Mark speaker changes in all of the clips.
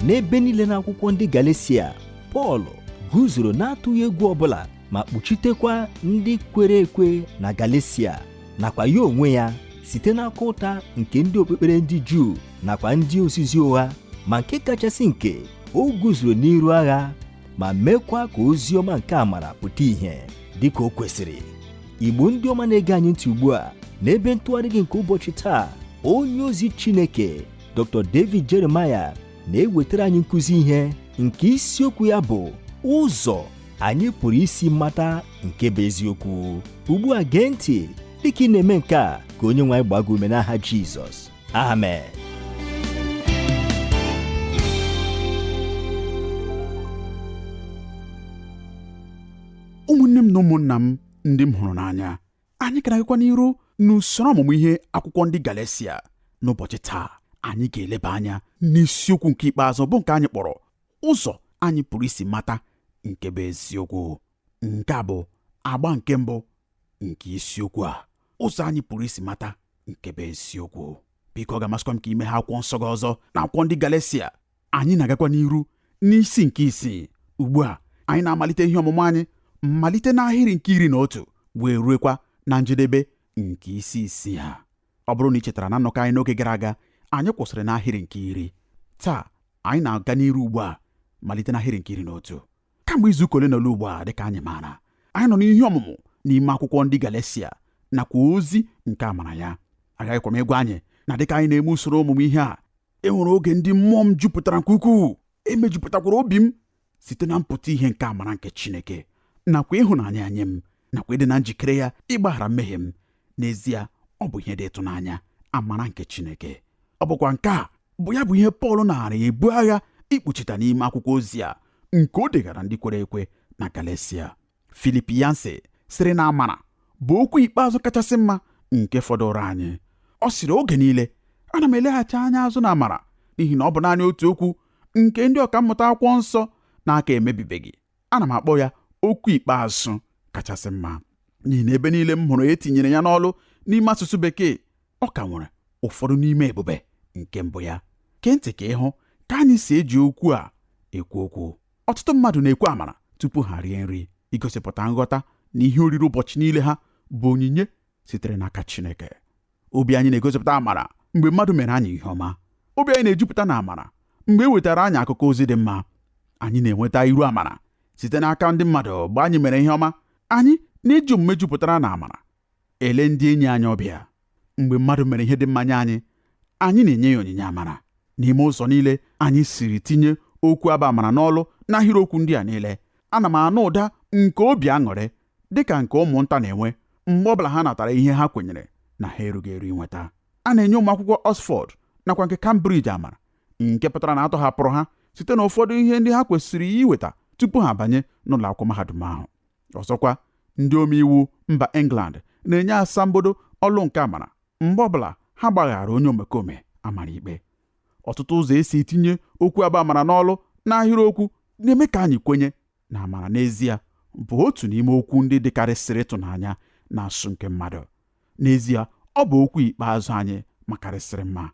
Speaker 1: n'ebe niile n'akwụkwọ ndị Galeshia Pọl guzoro n'atụghị egwu ọbụla ma kpuchitekwa ndị kwere ekwe na Galeshia nakwa ya onwe ya site n'akụ ụta nke ndị okpukpere ndị Juu nakwa ndị ozizi ụgha ma nke kachasị nke o guzoro n'iru agha ma mekwa ka ozi ọma nke amara pụta ìhè dịka o kwesịrị igbo ndị ọma na-ege anyị ntị ugbu a n'ebe ntụgharị gị nke ụbọchị taa onye ozi chineke dr david jeremiah na-ewetara anyị nkụzi ihe nke isiokwu ya bụ ụzọ anyị pụrụ isi mata nke bụ eziokwu ugbu a gee ntị dịka ị na-eme nke a ka onye nwe anyị gbaa gị ume n'aha jizọs amen
Speaker 2: ụmụnne m na ụmụnna m ndị m hụrụ n'anya anyị ka na-agakwa n'iru n'usoro ọmụmụ ihe akwụkwọ ndị Galatia n'ụbọchị taa anyị ga-eleba anya n'isiokwu nke ikpeazụ bụ nke anyị kpọrọ ụzọ anyị pụrụ isi mata nke bụ eziokwu nke a bụ agba nke mbụ nke isiokwu a ụzọ anyị pụrụ isi mata nke bụ eziokwu biko ọ ga-amasịkwa m ka i meghee akwụkwọ nsọ gị ọzọ na akwụkwọ ndị Galatia anyị na-agakwa n'iru n'isi nke isii ugbu a anyị na-amalite ihe ọmụmụ anyị malite n'ahịrị nke iri na otu wee ruekwa na njedebe nke isi isii a ọ bụrụ na ị chetara na nnọkọ anyị n'oge gara aga anyị kwụsịrị n'ahịrị nke iri taa anyị na-aga n'iru ugbu a malite n'ahịrị nke iri na otu kamgbe izu ụka ole na ole ugbu a dịka anyị maara anyị nọ n'ihe ọmụmụ n'ime akwụkwọ ndị Galesia nakwa ozi nke amara ya agaghịkwa m ịgwa anyị na dịka anyị na-eme usoro ọmụmụ ihe a e nwere oge ndị mmụọ m jupụtara nke ukwuu e mejupụtakwara obi m site na mpụta ihe nke amara nke Chineke nakwa ịhụnanya ya nye m nakwa ịdị na njikere ya ịgbaghara mmehie m n'ezie ọ bụ ihe dị ịtụnanya amara nke Chineke ọ bụkwa nke a bụ ya bụ ihe Pọl naara ebu agha ikpuchita n'ime akwụkwọ ozi a nke o degara ndị kwere ekwe na Galesia Philip Yancey sịrị na amara bụ okwu ikpeazụ kachasị mma nke fọdụrụ anyị ọ sịrị oge niile ana m eleghachi anya azụ na amara n'ihi na ọ bụ naanị otu okwu nke ndị ọkammụta akwụkwọ nsọ na-aka emebibeghị ana m akpọ ya okwu ikpeazụ kachasị mma n'ihi na ebe niile m hụrụ e tinyere ya n'ọlụ n'ime asụsụ bekee ọ ka nwere ụfọdụ n'ime ebube nke mbụ ya gee ntị ka ị hụ ka anyị si eji okwu a ekwu okwu ọtụtụ mmadụ na-ekwu amara tupu ha rie nri igosipụta nghọta na ihe oriri ụbọchị niile ha bụ onyinye sitere n'aka Chineke obi anyị na-egosipụta amara mgbe mmadụ mere anyị ihe ọma obi anyị na-ejupụta na amara mgbe e wetara anyị akụkọ ozi dị mma anyị na-enweta iru amara site n'aka ndị mmadụ mgbe anyị mere ihe ọma anyị na-eji omume jupụtara na amara ele ndị enyi anyị ọbịa. Mgbe mmadụ mere ihe dị mma nye anyị, anyị na-enye ya onyinye amara. N'ime ụzọ niile anyị siri tinye okwu a bụ amara n'ọlụ n'ahịrịokwu ndị a niile, ana m anụ ụda nke obi aṅụrị dị ka nke ụmụnta na-enwe mgbe ọ bụla ha natara ihe ha kwenyere na ha erughị eru inweta. A na-enye ụmụ akwụkwọ Oxford nakwa nke Cambridge amara, nke pụtara na a tọhapụrụ ha site n'ụfọdụ ihe ndị ha kwesịrị iweta tupu ha abanye n'ụlọ akwụkwọ mahadum ahụ. ọzọkwa ndị omeiwu mba England na-enye asambodo ọlụ nke amara mgbe ọbụla ha gbaghara onye omekome a mara ikpe ọtụtụ ụzọ e si etinye okwu a bụ amara n'ọlụ n'ahịrịokwu na-eme ka anyị kwenye na amara n'ezie bụ otu n'ime okwu ndị dịkarịsịrị ịtụnanya n'asụsụ nke mmadụ n'ezie ọ bụ okwu ikpeazụ anyị makarịsịrị mma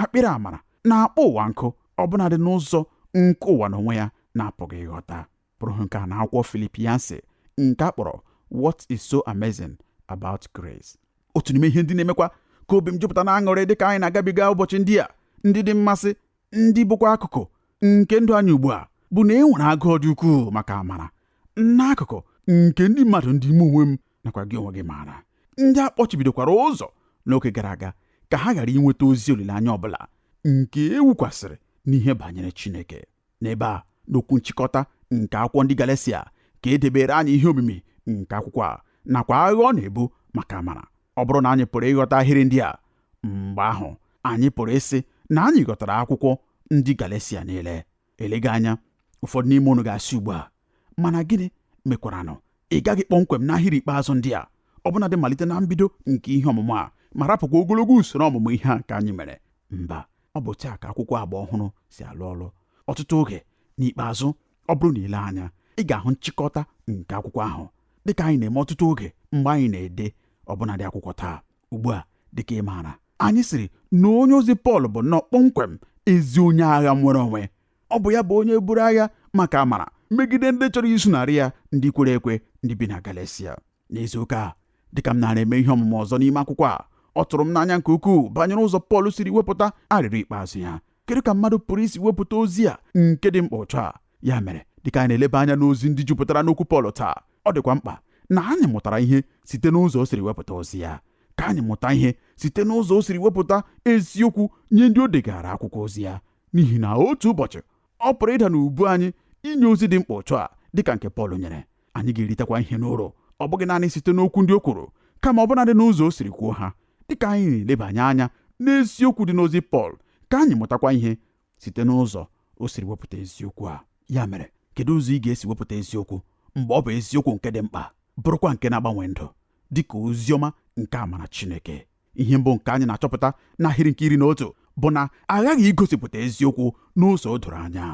Speaker 2: akpịrị amara na-akpọ ụwa nkụ ọbụnadị n'ụzọ nke ụwa n'onwe ya na-apụghị ịghọta pụrụ ịhụ nke a n'akwụkwọ Philip Yancey nke a kpọrọ What is so amazing about grace? otu n'ime ihe ndị na-emekwa ka obi m jupụta n'aṅụrị dịka anyị na-agabiga ụbọchị ndị a ndị dị mmasị ndị bụkwa akụkụ nke ndụ anyị ugbu a bụ na e nwere agụụ dị ukwuu maka amara n'akụkụ nke ndị mmadụ ndị mụ onwe m nakwa gị onwe gị maara ndị a kpọchibidokwara ụzọ n'oge gara aga ka ha ghara inweta ozi olileanya ọbụla nke e wukwasịrị n'ihe banyere Chineke N'ebe a, n'okwu nchịkọta nke akwụkwọ ndị Galatia, ka e debere anyị ihe omimi nke akwụkwọ a nakwa agha ọ na-ebu maka amara. Ọ bụrụ na anyị pụrụ ịghọta ahịrị ndị a, mgbe ahụ anyị pụrụ ịsị na anyị ghọtara akwụkwọ ndị Galatia niile. Eleghị anya, ụfọdụ n'ime unu ga-asị ugbu a, mana gịnị mekwaranụ ị gaghị kpọmkwem n'ahịrị ikpeazụ ndị a, ọbụnadị malite na mbido nke ihe ọmụmụ a, ma rapụkwa ogologo usoro ọmụmụ ihe a nke anyị mere. Mba, ọ bụ otu a ka akwụkwọ agba ọhụrụ si alụ ọlụ ọtụtụ oge n'ikpeazụ ọ bụrụ na i lee anya ị ga-ahụ nchịkọta nke akwụkwọ ahụ dịka anyị na-eme ọtụtụ oge mgbe anyị na-ede ọbụnadị akwụkwọ taa ugbu a dịka ị maara anyị sịrị na onye ozi Pọl bụ nnọọ kpọmkwem ezi onye agha nnwere onwe ọ bụ ya bụ onye buru agha maka amara megide ndị chọrọ izunarị ya ndị kwere ekwe ndị bi na Galatia n'izu ụka a dịka m nara eme ihe ọmụmụ ọzọ n'ime akwụkwọ a ọ tụrụ m n'anya nke ukwuu banyere ụzọ Pọl siri wepụta arịrịọ ikpeazụ ya kedu ka mmadụ pụrụ isi wepụta ozi a nke dị mkpa otu a ya mere dịka anyị na-eleba anya n'ozi ndị jupụtara n'okwu Pọl taa ọ dịkwa mkpa na anyị mụtara ihe site n'ụzọ o siri wepụta ozi ya ka anyị mụta ihe site n'ụzọ o siri wepụta eziokwu nye ndị o degara akwụkwọ ozi ya n'ihi na otu ụbọchị ọ pụrụ ịda n'ubu anyị inye ozi dị mkpa otu a dịka nke Pọl nyere anyị ga-eritekwa ihe n'uru ọ bụghị naanị site n'okwu ndị o kwuru kama ọ bụnadị n'ụzọ o siri kwuo ha dịka anyị na-elebanye anya n'eziokwu dị n'ozi Pọl ka anyị mụtakwa ihe site n'ụzọ o siri wepụta eziokwu a ya mere kedu ụzọ ị ga-esi wepụta eziokwu mgbe ọ bụ eziokwu nke dị mkpa bụrụkwa nke na-agbanwe ndụ dịka ozi ọma nke amara Chineke ihe mbụ nke anyị na-achọpụta n'ahịrị nke iri na otu bụ na aghaghị igosipụta eziokwu n'ụzọ doro anya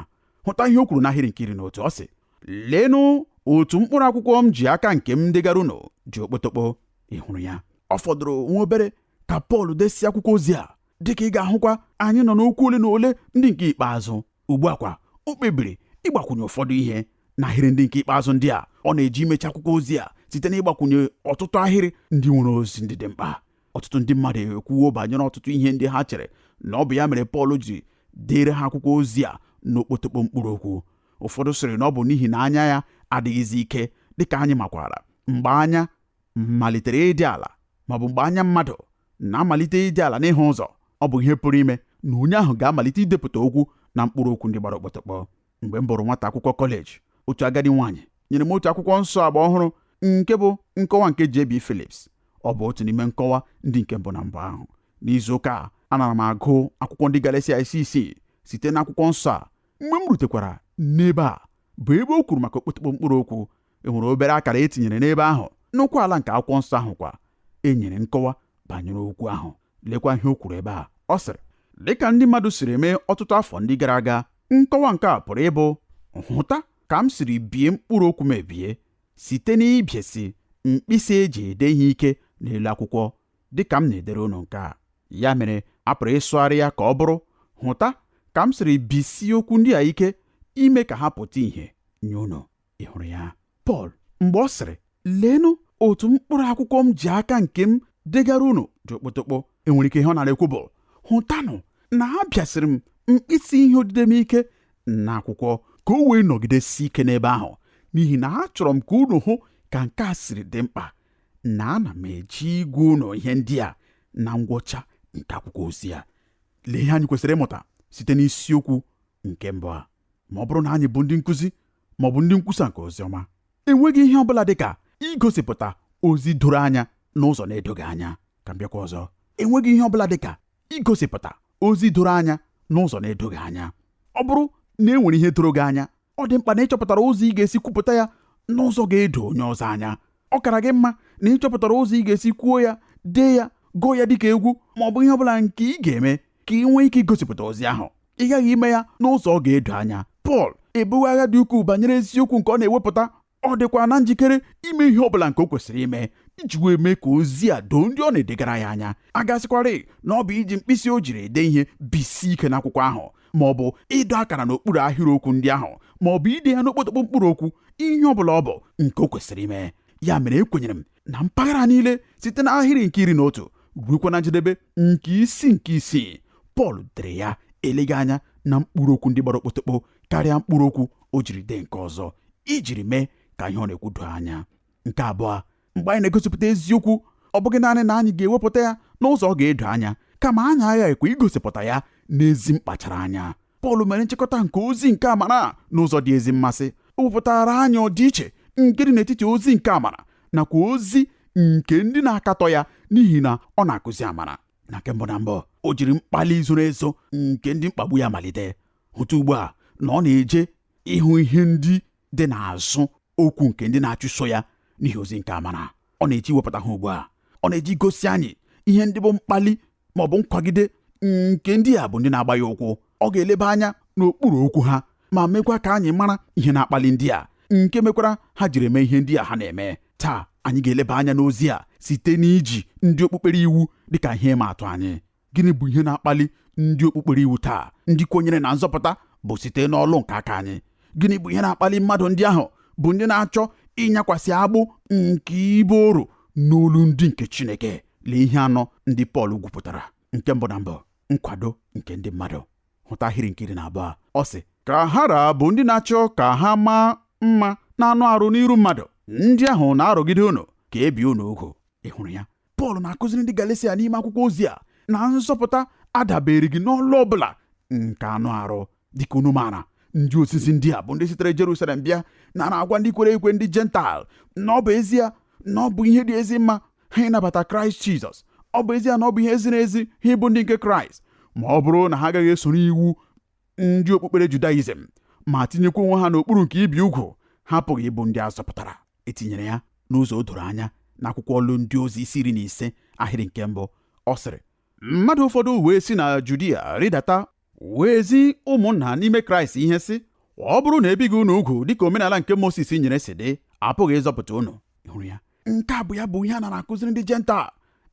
Speaker 2: hụta ihe o kwuru n'ahịrị nke iri na otu ọ sị leenụ otu mkpụrụ akwụkwọ m ji aka nke m degara unu dị okpotokpo ị hụrụ ya ọ fọdụrụ nwa obere ka Pọl desịa akwụkwọ ozi a dịka ị ga-ahụkwa anyị nọ n'okwu ole na ole ndị nke ikpeazụ ugbu a kwa o kpebiri ịgbakwunye ụfọdụ ihe n'ahịrị ndị nke ikpeazụ ndị a ọ na-eji imechi akwụkwọ ozi a site n'ịgbakwunye ọtụtụ ahịrị ndị nwere ozi ndị dị mkpa ọtụtụ ndị mmadụ ekwuwo banyere ọtụtụ ihe ndị ha chere na ọ bụ ya mere Pọl ji deere ha akwụkwọ ozi a n'okpotokpo mkpụrụ okwu ụfọdụ sịrị na ọ bụ n'ihi na anya ya adịghịzi ike dịka anyị makwara mgbe anya malitere ịdị ala maọbụ mgbe anya mmadụ na-amalite ịdị ala n'ịhụ ụzọ ọ bụ ihe pụrụ ime na onye ahụ ga-amalite idepụta okwu na mkpụrụ okwu ndị gbara okpotokpo mgbe m bụrụ nwata akwụkwọ kọleji otu agadi nwaanyị nyere m otu akwụkwọ nsọ agba ọhụrụ nke bụ nkọwa nke JB Phillips ọ bụ otu n'ime nkọwa ndị nke mbụ na mbụ ahụ n'izu ụka a anara m agụ akwụkwọ ndị Galatia isi isii site n'akwụkwọ nsọ a mgbe m rutekwara n'ebe a bụ ebe o kwuru maka okpotokpo mkpụrụ okwu e nwere obere akara e tinyere n'ebe ahụ n'ụkwụ ala nke akwụkwọ nsọ ahụ kwa e nyere nkọwa banyere okwu ahụ lekwa ihe o kwuru ebe a ọ sịrị dịka ndị mmadụ siri mee ọtụtụ afọ ndị gara aga nkọwa nke a pụrụ ịbụ hụta ka m siri bie mkpụrụ okwu m ebie site n'ịbịasi mkpịsị e ji ede ihe ike n'elu akwụkwọ dịka m na-edere unu nke a ya mere a pụrụ ịsụgharị ya ka ọ bụrụ hụta ka m siri bisie okwu ndị a ike ime ka ha pụta ìhè nye unu ị hụrụ ya Pọl mgbe ọ sịrị leenụ otu mkpụrụ akwụkwọ m ji aka nke m degara unu dị okpotokpo e nwere ike ihe ọ nara ekwu bụ hụtanụ na abịasiri m mkpịsị ihe odide m ike n'akwụkwọ ka o wee nọgidesie ike n'ebe ahụ n'ihi na achọrọ m ka unu hụ ka nke a siri dị mkpa na ana m eji ịgwa unu ihe ndị a na ngwụcha nke akwụkwọ ozi a lee ihe anyị kwesịrị ịmụta site n'isiokwu nke mbụ a ma ọ bụrụ na anyị bụ ndị nkụzi ma ọ bụ ndị nkwusa nke ozi ọma enweghị ihe ọ bụla dị ka igosipụta ozi doro anya n'ụzọ na-edoghị anya ka m bịakwa ọzọ enweghị ihe ọ bụla dị ka igosipụta ozi doro anya n'ụzọ na-edoghị anya ọ bụrụ na e nwere ihe doro gị anya ọ dị mkpa na ị chọpụtara ụzọ ị ga-esi kwupụta ya n'ụzọ ga-edo onye ọzọ anya ọ kara gị mma na ị chọpụtara ụzọ ị ga-esi kwuo ya dee ya gụọ ya dịka egwu ma ọ bụ ihe ọ bụla nke ị ga-eme ka ị nwee ike igosipụta ozi ahụ ị ghaghị ime ya n'ụzọ ọ ga-edo anya Pọl ebuwo agha dị ukwuu banyere eziokwu nke ọ na-ewepụta ọ dịkwa na njikere ime ihe ọ bụla nke o kwesịrị ime iji wee mee ka ozi a doo ndị ọ na-edegara ya anya a ga-asịkwarị na ọ bụ iji mkpịsị o jiri ede ihe bisie ike n'akwụkwọ ahụ ma ọ bụ ịdọ akara n'okpuru ahịrịokwu ndị ahụ ma ọ bụ ide ya n'okpotokpo mkpụrụ okwu ihe ọ bụla ọ bụ nke o kwesịrị ime ya mere ekwenyere m na mpaghara niile site n'ahịrị nke iri na otu ruekwa na njedebe nke isi nke isii pọl dere ya eleghị anya na mkpụrụ okwu ndị gbara okpotokpo karịa mkpụrụ okwu o jiri dee nke ọzọ ijiri mee ka ihe ọ na-ekwu doo anya nke abụọ mgbe anyị na-egosipụta eziokwu ọ bụghị naanị na anyị ga-ewepụta ya n'ụzọ ọ ga-edo anya kama anyị aghaghịkwa igosipụta ya n'ezi mkpachara anya Pọl mere nchịkọta nke ozi nke amara n'ụzọ dị ezi mmasị o wepụtara anyị ọdịiche nke dị n'etiti ozi nke amara nakwa ozi nke ndị na-akatọ ya n'ihi na ọ na-akụzi amara na nke mbụ na mbụ o jiri mkpali zoro ezo nke ndị mkpagbu ya malite hụta ugbu a na ọ na-eje ịhụ ihe ndị dị n'azụ okwu nke ndị na-achụso ya n'ihi ozi nke amara ọ na-eje iwepụta ha ugbu a ọ na-eje igosi anyị ihe ndị bụ mkpali ma ọ bụ nkwagide nke ndị a bụ ndị na-agba ya ụkwụ ọ ga-eleba anya n'okpuru okwu ha ma mekwa ka anyị mara ihe na-akpali ndị a nke mekwara ha jiri eme ihe ndị a ha na-eme taa anyị ga-eleba anya n'ozi a site n'iji ndị okpukpere iwu dịka ihe ịma atụ anyị gịnị bụ ihe na-akpali ndị okpukpere iwu taa ndị kwenyere na nzọpụta bụ site n'ọlụ nke aka anyị gịnị bụ ihe na-akpali mmadụ ndị ahụ bụ ndị na-achọ ịnyakwasị agbụ nke ịbụ oru n'olu ndị nke Chineke lee ihe anọ ndị Pọl gwupụtara nke mbụ na mbụ nkwado nke ndị mmadụ hụta ahịrị nke iri na abụọ ọ sị ka ha ra bụ ndị na-achọ ka ha maa mma n'anụ arụ n'iru mmadụ ndị ahụ na-arụgide unu ka e bie unu ugwu ị hụrụ ya Pọl na-akụziri ndị Galesia n'ime akwụkwọ ozi a na nzọpụta adabereghị n'ọlụ ọ bụla nke anụ arụ dịka unu maara ndị ozizi ndị a bụ ndị sitere Jerusalem bịa nara agwa ndị kwere ekwe ndị jental na ọ bụ ezie na ọ bụ ihe dị ezi mma ha ịnabata kraịst jizọs ọ bụ ezie na ọ bụ ihe ziri ezi ha ịbụ ndị nke kraịst ma ọ bụrụ na ha agaghị esoro iwu ndị okpukpere judaizm ma tinyekwa onwe ha n'okpuru nke ibi ugwu ha apụghị ịbụ ndị a zọpụtara etinyere ya n'ụzọ o doro anya n'akwụkwọ ọlụ ndị ozi isi iri na ise ahịrị nke mbụ ọ sịrị mmadụ ụfọdụ wee si na judia rịdata wee ezi ụmụnna n'ime kraịst ihe sị ọ bụrụ na ebighị unu ugwu dịka omenala nke moses nyere si dị apụghị ịzọpụta unu hụrụ ya nke a bụ ya bụ ihe a nara akụziri ndị jental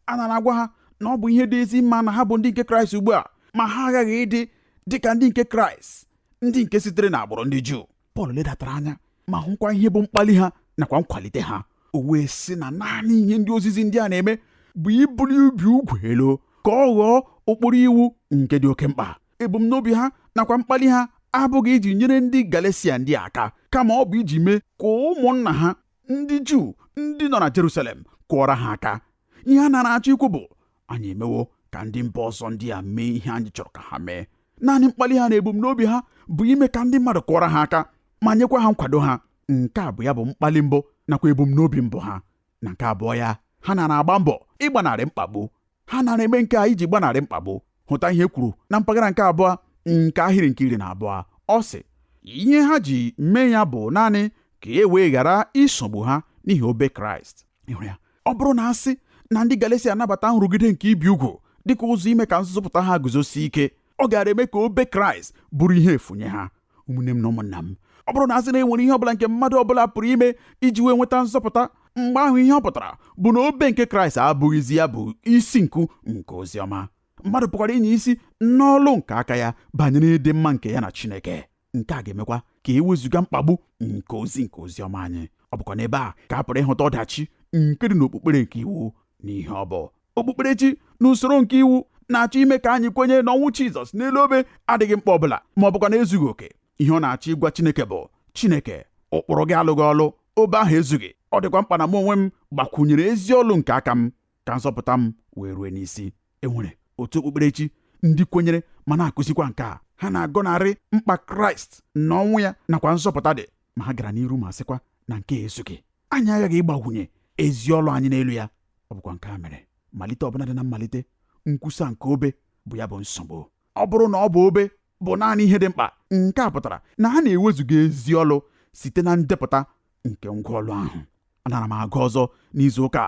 Speaker 2: a nara agwa ha na ọ bụ ihe dị ezi mma na ha bụ ndị nke kraịst ugbu a ma ha aghaghị ịdị dịka ndị nke kraịst ndị nke sitere n'agbụrụ ndị juu Pọl ledatara anya ma hụkwa ihe bụ mkpali ha nakwa nkwalite ha o wee sị na naanị ihe ndị ozizi ndị a na-eme bụ ibuli ibi ugwu elu ka ọ ghọọ ụkpụrụ iwu nke dị oke mkpa ebumnobi ha nakwa mkpali ha abụghị iji nyere ndị Galesia ndị aka kama ọ bụ iji mee ka ụmụnna ha ndị juu ndị nọ na jerusalem kụọra ha aka ihe a nara achọ ikwu bụ anyị emewo ka ndị mba ọzọ ndị a mee ihe anyị chọrọ ka ha mee naanị mkpali ha na ebumnobi ha bụ ime ka ndị mmadụ kụọra ha aka ma nyekwa ha nkwado ha nke a bụ ya bụ mkpali mbụ nakwa ebumnobi mbụ ha na nke abụọ ya ha nara agba mbọ ịgbanarị mkpagbu ha nara eme nke a iji gbanarị mkpagbu hụta ihe e kwuru na mpaghara nke abụọ nke ahịrị nke iri na abụọ ọ sị ihe ha ji mee ya bụ naanị ka e wee ghara isogbu ha n'ihi obe kraịst ọ bụrụ na asị na ndị galesia anabata nrụgide nke ibi ugwu dịka ụzọ ime ka nzọpụta ha guzosie ike ọ gaara eme ka obe kraịst bụrụ ihe efu nye ha ụmụnne m na ụmụnna m ọ bụrụ na asị na enwere ihe ọbụla nke mmadụ ọbụla pụrụ ime iji wee nweta nzọpụta mgbe ahụ ihe ọ pụtara bụ na obe nke kraịst abụghịzi ya bụ isi nku nke ozi ọma mmadụ pụkwara ịnya isi n'ọlụ nke aka ya banyere ịdị mma nke ya na chineke nke a ga-emekwa ka e wezụga mkpagbu nke ozi nke ozi ọma anyị ọ bụkwa n'ebe a ka a pụrụ ịhụta ọdachi nke dị n'okpukpere nke iwu na ihe ọ bụ okpukperechi na usoro nke iwu na-achọ ime ka anyị kwenye na ọnwụ Jizọs n'elu obe adịghị mkpa ọbụla ma ọ bụkwanụ ezughị oke ihe ọ na-achọ ịgwa Chineke bụ Chineke ụkpụrụ gị alụghị ọlụ obe ahụ ezughị ọ dịkwa mkpa na mụ onwe m gbakwunyere ezi ọlụ nke aka m ka nzọpụta m wee rue n'isi enwere otu okpukperechi ndị kwenyere ma na-akụzikwa nke a ha na-agọnarị mkpa kraịst na ọnwụ ya nakwa nzọpụta dị ma ha gara n'iru ma sịkwa na nke a ezughị anyị aghaghị ịgbakwunye ezi ọlụ anyị n'elu ya ọ bụkwa nke a mere malite ọbụla dị na mmalite nkwusa nke obe bụ ya bụ nsogbu ọ bụrụ na ọ bụ obe bụ naanị ihe dị mkpa nke a pụtara na ha na-ewezuga ezi ọlụ site na ndepụta nke ngwa ọlụ ahụ anara m agụ ọzọ n'izu ụka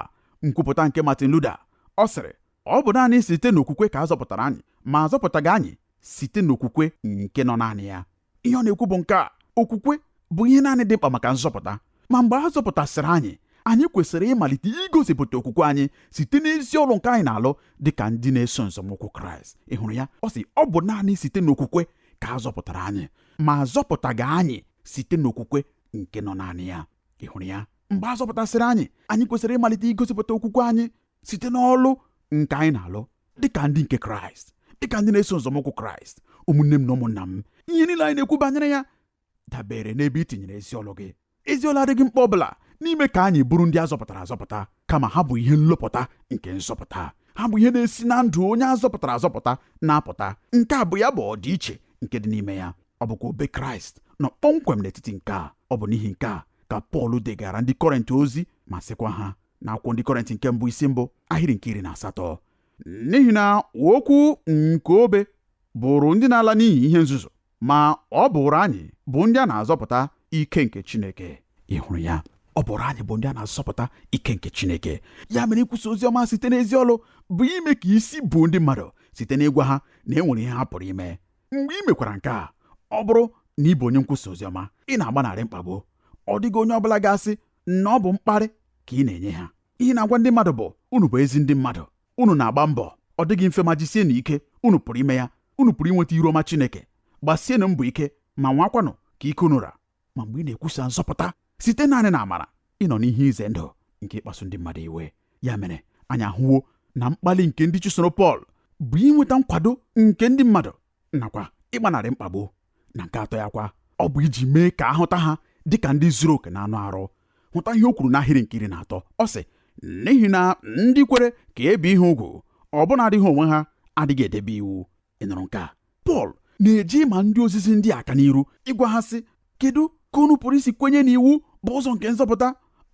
Speaker 2: nkwupụta nke Martin Luther ọ sịrị ọ bụ naanị site n'okwukwe ka a zọpụtara anyị ma azọpụtaghị anyị site n'okwukwe nke nọ naanị ya ihe ọ na-ekwu bụ nke a okwukwe bụ ihe naanị dị mkpa maka nzọpụta ma mgbe a zọpụtasịrị anyị anyị kwesịrị ịmalite igosipụta okwukwe anyị site n'ezi ọlụ nke anyị na-alụ dị ka ndị na-eso nzọmụkwụ kraịst ị hụrụ ya ọ sị ọ bụ naanị site n'okwukwe ka a zọpụtara anyị ma azọpụtaghị anyị site n'okwukwe nke nọ naanị ya ị hụrụ ya mgbe a zọpụtasịrị anyị anyị kwesịrị ịmalite igosipụta okwukwe anyị site n'ọlụ nke anyị na-alụ dịka ndị nke kraịst dịka ndị na-eso nzọmụkwụ kraịst ụmụnne m na ụmụnna m ihe niile anyị na-ekwu banyere ya dabere n'ebe i tinyere ezi ọlụ gị ezi ọlụ adịghị mkpa ọbụla n'ime ka anyị bụrụ ndị a zọpụtara azọpụta kama ha bụ ihe nlụpụta nke nzọpụta ha bụ ihe na-esi na ndụ onye a zọpụtara azọpụta na-apụta nke a bụ ya bụ ọdịiche nke dị n'ime ya ọ bụkwa obe kraịst nọ kpọmkwem n'etiti nke a ọ bụ n'ihi nke a ka pọl degara ndị kọrịnt ozi ma sịkwa ha na akwụkwọ ndị kọrịntị nke mbụ isi mbụ ahịrị nke iri na asatọ n'ihi na okwu nke obe bụụrụ ndị na-ala n'iyi ihe nzuzu ma ọ bụụrụ anyị bụ ndị a na-azọpụta ike nke Chineke ị hụrụ ya ọ bụụrụ anyị bụ ndị a na-azọpụta ike nke Chineke ya mere ikwusa ozi ọma site n'ezi ọlụ bụ ime ka isi buo ndị mmadụ site n'ịgwa ha na e nwere ihe ha pụrụ ime mgbe ị mekwara nke a ọ bụrụ na ị bụ onye nkwusa oziọma ị na-agbanarị mkpagbu ọ dịghị onye ọbụla ga-asị na ọ bụ mkparị ka ị na-enye ha ihe ị na-agwa ndị mmadụ bụ unu bụ ezi ndị mmadụ unu na-agba mbọ ọ dịghị mfe ma jisienụ ike unu pụrụ ime ya unu pụrụ inweta iru ọma Chineke gbasienụ mbọ ike ma nwakwanụ ka ike unu ra ma mgbe ị na-ekwusa nzọpụta site naanị na amara ị nọ n'ihe ize ndụ nke ịkpasu ndị mmadụ iwe ya mere anyị ahụwo na mkpali nke ndị chụsoro Pọl bụ inweta nkwado nke ndị mmadụ nakwa ịgbanarị mkpagbu na nke atọ ya kwa ọ bụ iji mee ka a hụta ha dị ka ndị zuru oke na anụ arụ hụta ihe o kwuru n'ahịrị nke iri na atọ ọ sị n'ihi na ndị kwere ka e bie ha ugwu ọbụnadị ha onwe ha adịghị edebe iwu ị nụrụ nke a Pọl na-eji ma ndị ozizi ndị a aka n'iru ịgwa ha sị kedu ka unu pụrụ isi kwenye na iwu bụ ụzọ nke nzọpụta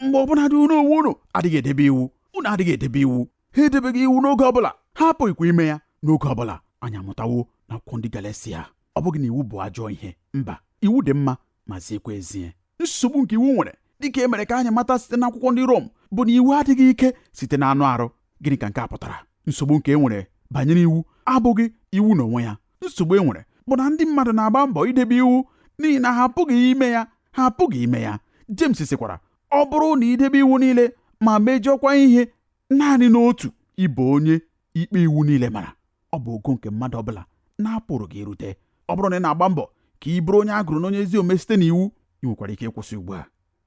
Speaker 2: mgbe ọbụnadị unu onwe unu adịghị edebe iwu unu adịghị edebe iwu ha edebeghị iwu n'oge ọ bụla ha apụghịkwa ime ya n'oge ọ bụla anyị amụtawo na akwụkwọ ndị Galatia ọ bụghị na iwu bụ ajọ ihe mba iwu dị mma ma ziekwa ezie nsogbu nke iwu nwere dịka e mere ka anyị mata site n'akwụkwọ ndị Rom bụ na iwu adịghị ike site na anụ arụ gịnị ka nke a pụtara nsogbu nke e nwere banyere iwu abụghị iwu n'onwe ya nsogbu e nwere bụ na ndị mmadụ na-agba mbọ idebe iwu n'ihi na ha apụghị ime ya ha apụghị ime ya James sịkwara ọ bụrụ na i debe iwu niile ma mejọkwa ihe naanị n'otu ị bụ onye ikpe iwu niile mara ọ bụ ogo nke mmadụ ọbụla na-apụrụghị irute ọ bụrụ na ị na-agba mbọ ka ị bụrụ onye a gụrụ n'onye ezi omume site n'iwu ị nwekwara ike ịkwụsị ugbu a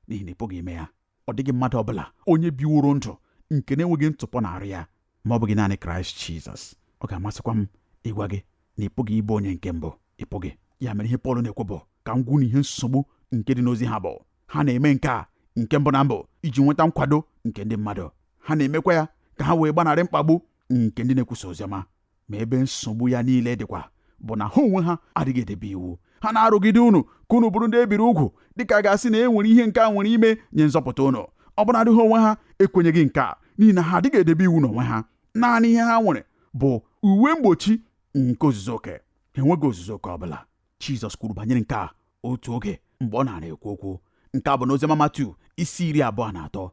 Speaker 2: n'ihi na ị pụghị ime ya ọ dịghị mmadụ ọbụla onye biworo ndụ nke na-enweghị ntụpọ na arụ ya ma ọ bụghị naanị kraịst jizọs ọ ga-amasịkwa m ịgwa gị na ị pụghị ịbụ onye nke mbụ ị pụghị ya mere ihe pọl na-ekwu bụ ka m gwa unu ihe nsogbu nke dị n'ozi ha bụ ha na-eme nke a nke mbụ na mbụ iji nweta nkwado nke ndị mmadụ ha na-emekwa ya ka ha wee gbanarị mkpagbu nke ndị na-ekwusa oziọma ma ebe nsogbu ya niile dịkwa bụ na ha onwe ha adịghị edebe iwu ha na-arụgide unu ka unu bụrụ ndị e biri ugwu dịka a ga-asị na e nwere ihe nke a nwere ime nye nzọpụta unu ọbụnadị ha onwe ha ekwenyeghị nke a n'ihi na ha adịghị edebe iwu n'onwe ha naanị ihe ha nwere bụ uwe mgbochi nke ozuzu oke ha enweghị ozuzu oke ọ bụla Jizọs kwuru banyere nke a otu oge mgbe ọ na-ara ekwu okwu nke a bụ n'oziọma Matiu isi iri abụọ na atọ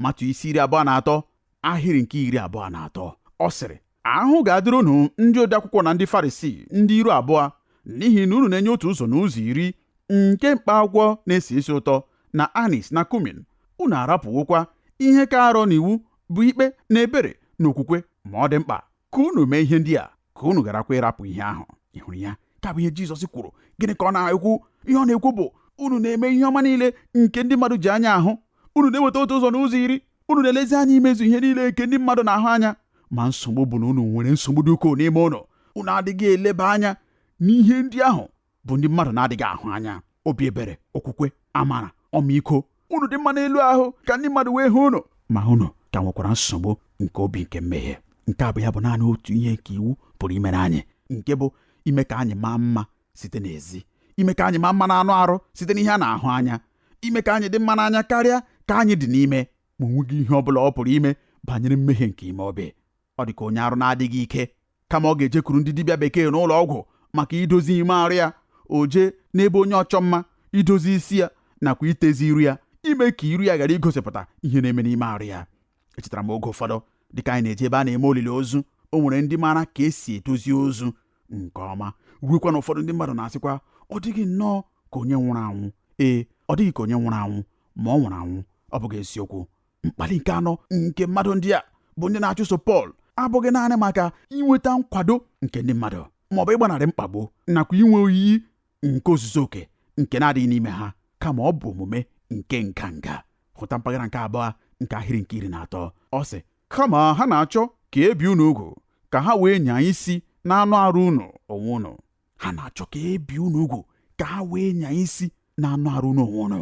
Speaker 2: Matiu isi iri abụọ na atọ ahịrị nke iri abụọ na atọ ọ sịrị ahụhụ ga-adịrị unu ndị odeakwụkwọ na ndị Farisii ndị iru abụọ n'ihi na unu na-enye otu ụzọ n'ụzọ iri nke mkpa akwụkwọ na-esi isi ụtọ na anis na kumin unu arapụwokwa ihe ka arọ n'iwu bụ ikpe na ebere na okwukwe ma ọ dị mkpa ka unu mee ihe ndị a ka unu gharakwa ịrapụ ihe ahụ ị hụrụ ya ka bụ ihe Jizọs kwuru gịnị ka ọ na-ekwu ihe ọ na-ekwu bụ unu na-eme ihe ọma niile nke ndị mmadụ ji anya ahụ unu na-eweta otu ụzọ n'ụzọ iri unu na-elezi anya imezu ihe niile nke ndị mmadụ na-ahụ anya ma nsogbu bụ na unu nwere nsogbu dị ukwuu n'ime unu unu adịghị eleba anya n'ihe ndị ahụ bụ ndị mmadụ na-adịghị ahụ anya obi ebere okwukwe amara ọmịiko unu dị mma n'elu ahụ ka ndị mmadụ wee hụ unu ma unu ka nwekwara nsogbu nke obi nke mmehie nke a bụ ya bụ naanị otu ihe nke iwu pụrụ imere anyị nke bụ ime ka anyị maa mma site n'ezi ime ka anyị maa mma n'anụ arụ site n'ihe a na-ahụ anya ime ka anyị dị mma n'anya karịa ka anyị dị n'ime ma o nweghị ihe ọ bụla ọ pụrụ ime banyere mmehie nke ime obi ọ dị ka onye arụ na-adịghị ike kama ọ ga-ejekwuru ndị dibịa bekee n'ụlọ ọgwụ maka idozi ime arụ ya o jee n'ebe onye ọchọ mma idozi isi ya nakwa itezi iru ya ime ka iru ya ghara igosipụta ihe na-eme n'ime arụ ya echetara m oge ụfọdụ dịka anyị na-eje ebe a na-eme olili ozu o nwere ndị maara ka e si edozi ozu nke ọma ruekwa na ụfọdụ ndị mmadụ na-asịkwa ọ dịghị nnọọ ka onye nwụrụ anwụ ee ọ dịghị ka onye nwụrụ anwụ ma ọ nwụrụ anwụ ọ bụghị eziokwu mkpali nke anọ nke mmadụ ndị a bụ ndị na-achụso Pọl abụghị naanị maka inweta nkwado nke ndị mmadụ ma ọ bụ ịgbanarị mkpagbu nakwa inwe oyiyi nke ozuzu oke nke na-adịghị n'ime ha kama ọ bụ omume nke nganga hụta mpaghara nke abụọ nke ahịrị nke iri na atọ ọ sị kama ha na-achọ ka ebi unu ugwu ka ha wee nyaa isi n'anụ arụ unu onwe unu ha na-achọ ka e bie unu ugwu ka ha wee nyaa isi n'anụ arụ unu onwe unu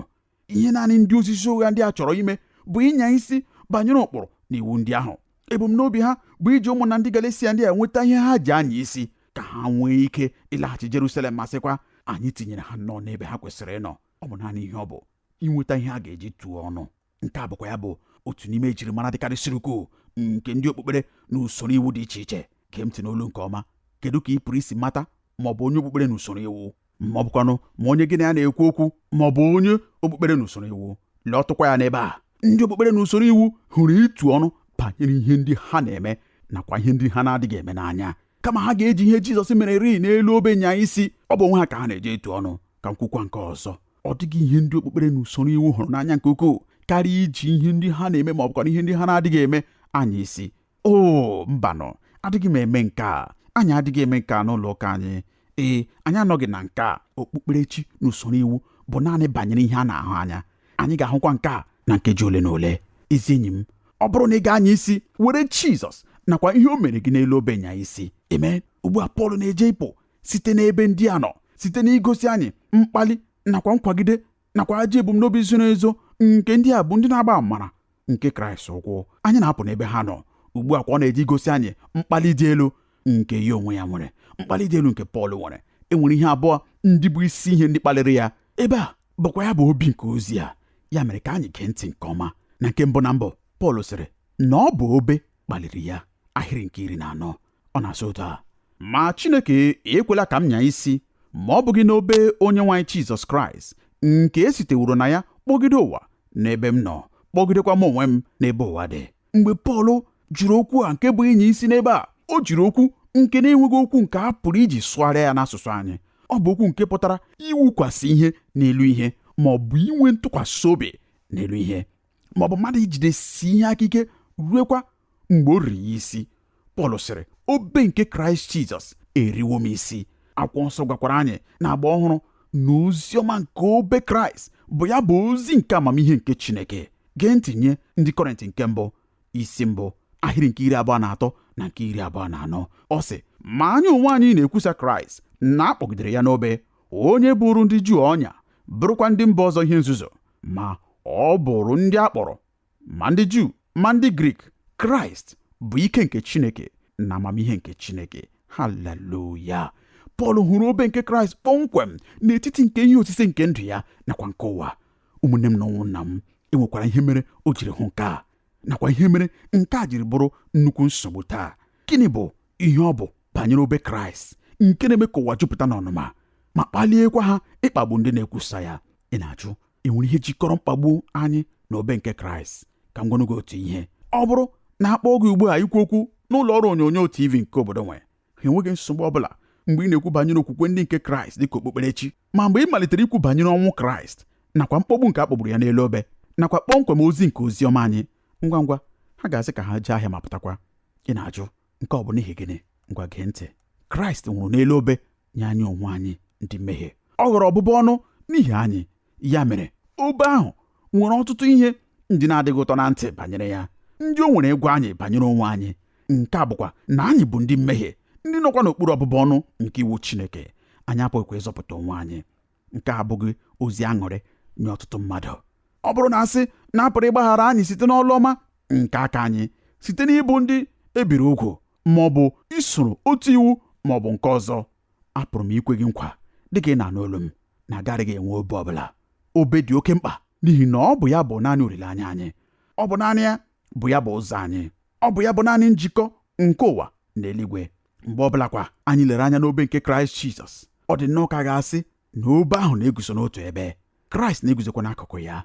Speaker 2: ihe naanị ndị ozizi ụgha ndị a chọrọ ime bụ ịnya isi banyere ụkpụrụ na iwu ndị ahụ ebumnobi ha bụ iji ụmụnna ndị Galesia ndị a nweta ihe ha ji anya isi ka ha nwee ike ịlaghachi Jerusalem ma sịkwa anyị tinyere ha nnọọ n'ebe ha kwesịrị ịnọ ọ bụ naanị ihe ọ bụ inweta ihe a ga-eji tụọ ọnụ nke a bụkwa ya bụ otu n'ime ejirimara dịkarịsịrị ukwuu nke ndị okpukpere na usoro iwu dị iche iche gee ntị n'olu nke ọma kedu ka ị pụrụ isi mata ma ọ bụ onye okpukpere na usoro iwu ma ọ bụkwanụ ma onye gị na ya na-ekwu okwu ma ọ bụ onye okpukpere na usoro iwu leetụkwa ya n'ebe a ndị okpukpere na usoro iwu hụrụ itu ọnụ banyere ihe ndị ha na-eme nakwa ihe ndị ha na-adịghị eme n'anya kama ha ga-eji ihe Jizọs mererịị n'elu obe nyaa isi ọ bụ onwe ha ka ha na-eji etu ọnụ ka m kwukwa nke ọzọ ọ dịghị ihe ndị okpukpere na usoro iwu hụrụ n'anya nke ukwuu karịa iji ihe ndị ha na-eme ma ọ bụkwara ihe ndị ha na-adịghị eme anya isi o mbanụ adịghị m eme nke a anyị adịghị eme nke a n'ụlọ ụka anyị ee anyị anọghị na nke a okpukperechi na usoro iwu bụ naanị banyere ihe a na-ahụ anya anyị ga-ahụkwa nke a na nkeji ole na ole ezi enyi m ọ bụrụ na ị ga-anya isi were Jizọs nakwa ihe o meere gị n'elu obe nyaa isi amen ugbu a Pọl na-eje ịpụ site n'ebe ndị a nọ site n'igosi anyị mkpali nakwa nkwagide nakwa ajọ ebumnobi zoro ezo nke ndị a bụ ndị na-agba amara nke kraịst ụkwụ anyị na-apụ n'ebe ha nọ ugbu a kwa ọ na-eje igosi anyị mkpali dị elu nke ya onwe ya nwere mkpali dị elu nke pọl nwere e nwere ihe abụọ ndị bụ isi ihe ndị kpaliri ya ebe a bụkwa ya bụ obi nke ozi a ya mere ka anyị gee ntị nke ọma na nke mbụ na mbụ pọl sịrị na ọ bụ obe kpaliri ya ahịrị nke iri na anọ ọ na-asị otu a ma Chineke ekwela ka m nyaa isi ma ọ bụghị n'obe onyenwe anyị Jizọs Kraịst nke e siteworo na ya kpọgide ụwa n'ebe m nọ kpọgidekwa m onwe m n'ebe ụwa dị mgbe Pọl jiri okwu a nke bụ ịnya isi n'ebe a o jiri okwu nke na-enweghị okwu nke a pụrụ iji sụgharịa ya n'asụsụ anyị ọ bụ okwu nke pụtara iwukwasị ihe n'elu ihe ma ọ bụ inwe ntụkwasị obi n'elu ihe ma ọ bụ mmadụ ijidesi ihe aka ike ruekwa mgbe o riri ya isi pọl sịrị obe nke kraịst jizọs eriwo m isi akwụkwọ nsọ gwakwara anyị n'agba ọhụrụ na ozi ọma nke obe kraịst bụ ya bụ ozi nke amamihe nke chineke gee ntị nye ndị kọrịntị nke mbụ isi mbụ ahịrị nke iri abụọ na atọ na nke iri abụọ na anọ ọ sị ma anyị onwe anyị na-ekwusa kraịst na a kpọgidere ya n'obe onye bụụrụ ndị juu ọnya bụrụkwa ndị mba ọzọ ihe nzuzu ma ọ bụụrụ ndị a kpọrọ ma ndị Juu ma ndị Grik Kraịst bụ ike nke Chineke na amamihe nke Chineke haleluya Pọl hụrụ obe nke Kraịst kpọmkwem n'etiti nke ihe osise nke ndụ ya nakwa nke ụwa ụmụnne m na ụmụnna m e nwekwara ihe mere o jiri hụ nke a nakwa ihe mere nke a jiri bụrụ nnukwu nsogbu taa gịnị bụ ihe ọ bụ banyere obe Kraịst nke na-eme ka ụwa jupụta n'ọnụma ma kpaliekwa ha ịkpagbu ndị na-ekwusa ya ị na-ajụ e nwere ihe jikọrọ mkpagbu anyị na obe nke kraịst ka m gwanụ gị otu ihe ọ bụrụ na a kpọọ gị ugbu a ikwu okwu n'ụlọ ọrụ onyonyo tv nke obodo nwe ha enweghị nsogbu ọ bụla mgbe ị na-ekwu banyere okwukwe ndị nke kraịst dịka okpukperechi ma mgbe ị malitere ikwu banyere ọnwụ kraịst nakwa mkpọgbu nke a kpọgburu ya n'elu obe nakwa kpọmkwem ozi nke ozi ọma anyị ngwa ngwa ha ga-asị ka ha jee ahịa ma pụtakwa ị na-ajụ nke ọ bụ n'ihi gịnị ngwa gee ntị kraịst nwụrụ n'elu obe nye anyị onwe anyị ndị mmehie ọ ghọrọ ọbụbụ ọnụ n'ihi anyị ya mere obe ahụ nwere ọtụtụ ihe ndị na-adịghị ụtọ na ntị banyere ya ndị o nwere ịgwa anyị banyere onwe anyị nke a bụkwa na anyị bụ ndị mmehie ndị nọkwa n'okpuru ọbụbụ ọnụ nke iwu Chineke anyị apụghịkwa ịzọpụta onwe anyị nke a abụghị ozi aṅụrị nye ọtụtụ mmadụ ọ bụrụ na a sị na a pụrụ ịgbaghara anyị site n'ọlụ ọma nke aka anyị site n'ịbụ ndị e biri ugwu ma ọ bụ isoro otu iwu ma ọ bụ nke ọzọ apụrụ m ikwe gị nkwa dịka ị na-anụ olu m na a garaghị enwe obe ọ bụla obe dị oke mkpa n'ihi na ọ bụ ya bụ naanị olileanya anyị ọ bụ naanị ya bụ ya bụ ụzọ anyị ọ bụ ya bụ naanị njikọ nke ụwa na eluigwe mgbe ọ bụlakwa anyị lere anya n'obe nke kraịst jizọs ọ dị nnọọ ka a ga-asị na obe ahụ na-eguzo n'otu ebe kraịst na-eguzokwa n'akụkụ ya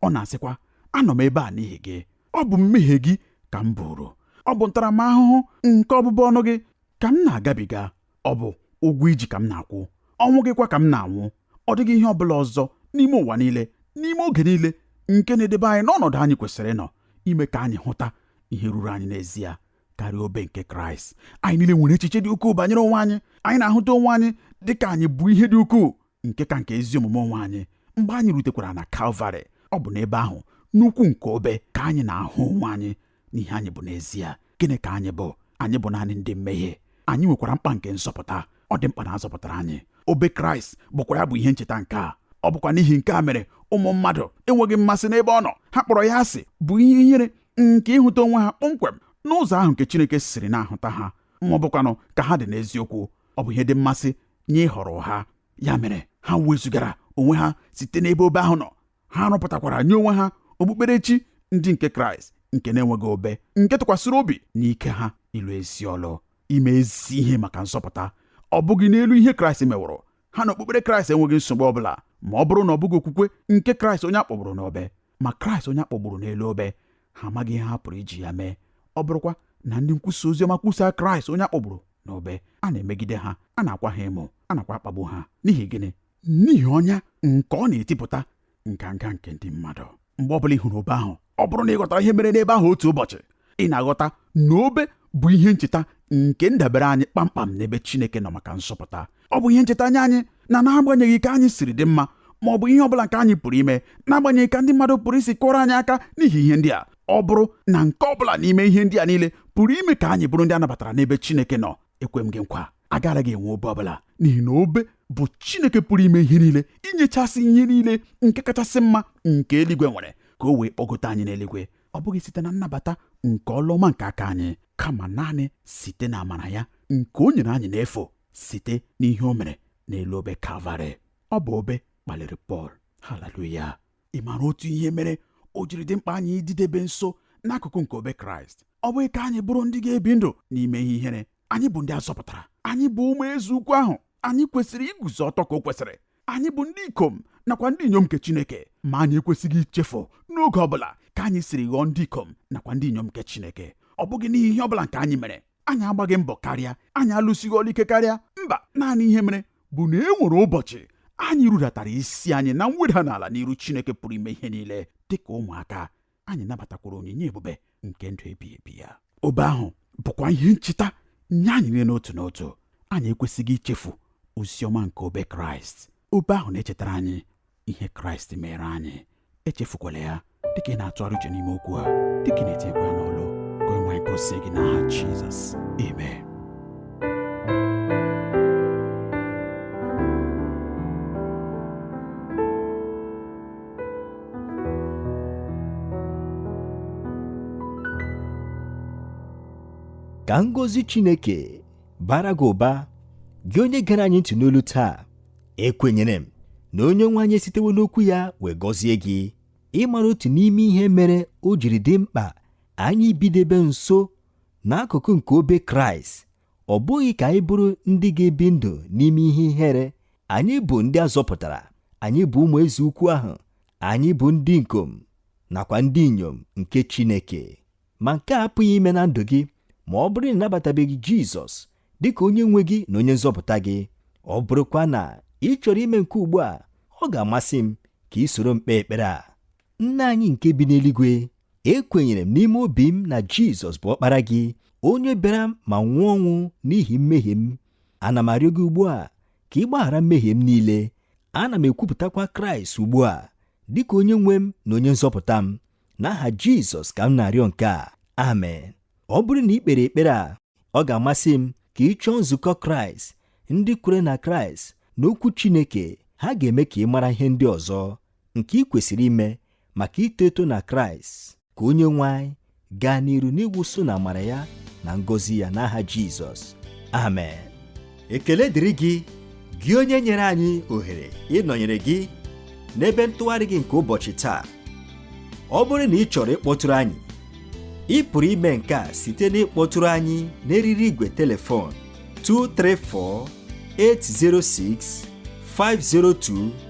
Speaker 2: ọ na-asịkwa anọ m ebe a n'ihi gị ọ bụ mmehie gị ka m buuru ọ bụ ntaramahụhụ nke ọbụbụ ọnụ gị ka m na-agabiga ọ bụ ụgwọ i ji ka m na-akwụ ọnwụ gịkwa ka m na-anwụ ọ dịghị ihe ọ bụla ọzọ n'ime ụwa niile n'ime oge niile nke na-edebe anyị n'ọnọdụ anyị kwesịrị ịnọ ime ka anyị hụta ihe ruru anyị n'ezie karịa obe nke kraịst anyị niile nwere echiche dị ukwuu banyere onwe anyị anyị na-ahụta onwe anyị dị ka anyị bụ ihe dị ukwuu nke ka nke ezi omume onwe anyị mgbe anyị rutekwara na kalvarị ọ bụ n'ebe ahụ n'ukwu nke obe ka anyị na-ahụ onwe anyị n'ihe anyị bụ n'ezie gịnị ka anyị bụ anyị bụ naanị ndị mmehie anyị nwekwara mkpa nke nzọpụta ọ dị mkpa na a zọpụtara anyị obe kraịst bụkwa ya bụ ihe ncheta nke a ọ bụkwa n'ihi nke a mere ụmụ mmadụ enweghị mmasị n'ebe ọ nọ ha kpọrọ ya asị bụ ihe ihere nke ịhụta onwe ha kpọmkwem n'ụzọ ahụ nke Chineke siri na-ahụta ha ma ọ bụkwanụ ka ha dị n'eziokwu ọ bụ ihe dị mmasị nye ịhọrọ ha ya mere ha wezugara onwe ha site n'ebe obe ahụ nọ ha rụpụtakwara nye onwe ha okpukperechi ndị nke Kraịst nke na-enweghị obe nke tụkwasịrị obi n'ike ha ịlụ ezi ọlụ ime ezi ihe maka nzọpụta ọ bụghị n'elu ihe Kraịst meworo ha na okpukpere kraịst enweghị nsogbu ọ bụla ma ọ bụrụ na ọ bụghị okwukwe nke kraịst onye a kpọgburu n'obe ma kraịst onye a kpọgburu n'elu obe ha amaghị ihe ha pụrụ iji ya mee ọ bụrụkwa na ndị nkwusa ozi ọma kwusaa kraịst onye a kpọgburu n'obe a na-emegide ha a na-akwa ha emo a nakwa akpagbu ha n'ihi gịnị n'ihi ọnya nke ọ na-etipụta nganga nke ndị mmadụ mgbe ọbụla ị hụrụ obe ahụ ọ bụrụ na ị ghọtara ihe mere n'ebe ahụ otu ụbọchị ị na-aghọta na obe bụ ihe ncheta nke ndabere anyị kpamkpam n'ebe Chineke nọ maka nzọpụta ọ bụ ihe ncheta nye anyị na n'agbanyeghị ka anyị siri dị mma ma ọ bụ ihe ọbụla nke anyị pụrụ ime n'agbanyeghị ka ndị mmadụ pụrụ isi kụọrọ anyị aka n'ihi ihe ndị a ọ bụrụ na nke ọ bụla n'ime ihe ndị a niile pụrụ ime ka anyị bụrụ ndị a nabatara n'ebe Chineke nọ ekwe m gị nkwa agaraghị enwe obe ọbụla n'ihi na obe bụ chineke pụrụ ime ihe niile inyechasị ihe niile nke kachasị mma nke eluigwe nwere ka o wee kpọgote anyị n'eluigwe ọ bụghị site na nnabata nke ọlụ ọma nke aka anyị kama naanị site na amara ya nke o nyere anyị n'efu site n'ihe o mere n'elu obe kalvarị ọ bụ obe kpaliri pọl haleluya ị maara otu ihe mere o jiri dị mkpa anyị ịdịdebe nso n'akụkụ nke obe kraịst ọ bụghị ka anyị bụrụ ndị ga-ebi ndụ n'ime ihe ihere anyị bụ ndị a zọpụtara anyị bụ ụmụ eze ukwu ahụ anyị kwesịrị iguzo ọtọ ka o kwesịrị anyị bụ ndị ikom nakwa ndị inyom nke Chineke ma anyị ekwesịghị ichefu n'oge ọbụla ka anyị siri ghọọ ndị ikom nakwa ndị inyom nke Chineke ọ bụghị n'ihi ihe ọbụla nke anyị mere anyị agbaghị mbọ karịa anyị alụsighị ọlụ ike karịa mba naanị ihe mere bụ na e nwere ụbọchị anyị rudatara isi anyị na mweda n'ala n'iru Chineke pụrụ ime ihe niile dịka ụmụaka anyị nabatakwara onyinye ebube nke ndụ ebighị ebi ya obe ahụ bụkwa ihe ncheta nye anyị niile n'otu n'otu anyị ekwesịghị ichefu ozi ọma nke obe kraịst obe ahụ na-echetara anyị ihe kraịst meere anyị echefukwala ya dịka ị na-atụgharị uche n'ime okwu a dịka ị na-etinyekwa ya n'ọlụ ka onye nwe anyị gọzie gị n'aha jizọs amen
Speaker 1: ka ngọzi Chineke baara gị ụba gị onye gere anyị ntị n'olu taa ekwenyere m na onye nwe anyị esitewo n'okwu ya wee gọzie gị ị maara otu n'ime ihe mere o jiri dị mkpa anyị bidebe nso n'akụkụ nke obe Kraịst ọ bụghị ka anyị bụrụ ndị ga-ebi ndụ n'ime ihe ihere anyị bụ ndị a zọpụtara anyị bụ ụmụ eze ukwu ahụ anyị bụ ndị ikom nakwa ndị inyom nke Chineke ma nke a apụghị ime na ndụ gị ma ọ bụrụ na ị nabatabeghị Jizọs dị ka onye nwe gị na onye nzọpụta gị ọ bụrụkwa na ị chọrọ ime nke ugbu a ọ ga-amasị m ka i soro m kpee ekpere a nna anyị nke bi n'eluigwe ekwenyere m n'ime obi m na Jizọs bụ ọkpara gị onye bịara ma nwụọ ọnwụ n'ihi mmehie m ana m arịọ gị ugbu a ka ị gbaghara mmehie m niile ana m ekwupụtakwa kraịst ugbu a dị ka onye nwe m na onye nzọpụta m n'aha jizọs ka m na-arịọ nke a amen ọ bụrụ na i kpere ekpere a ọ ga-amasị m ka ị chọọ nzukọ kraịst ndị kwere na kraịst na okwu chineke ha ga-eme ka ị mara ihe ndị ọzọ nke ị kwesịrị ime maka ito eto na kraịst ka onyenwe anyị gaa n'iru n'ịwụsa unu amara ya na ngọzi ya n'aha jizọs amen ekele dịrị gị gị onye nyere anyị ohere ịnọnyere gị n'ebe ntụgharị gị nke ụbọchị taa ọ bụrụ na ị chọrọ ịkpọtụrụ anyị ị pụrụ ime nke a site n'ịkpọtụrụ anyị n'eriri igwe telefon 234 806 502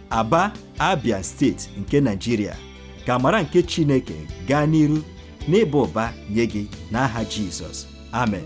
Speaker 1: Aba, Abia steeti nke Naijiria, ka amara nke Chineke gaa n'iru n'ịba ụba nye gị n'aha Jizọs. Amen.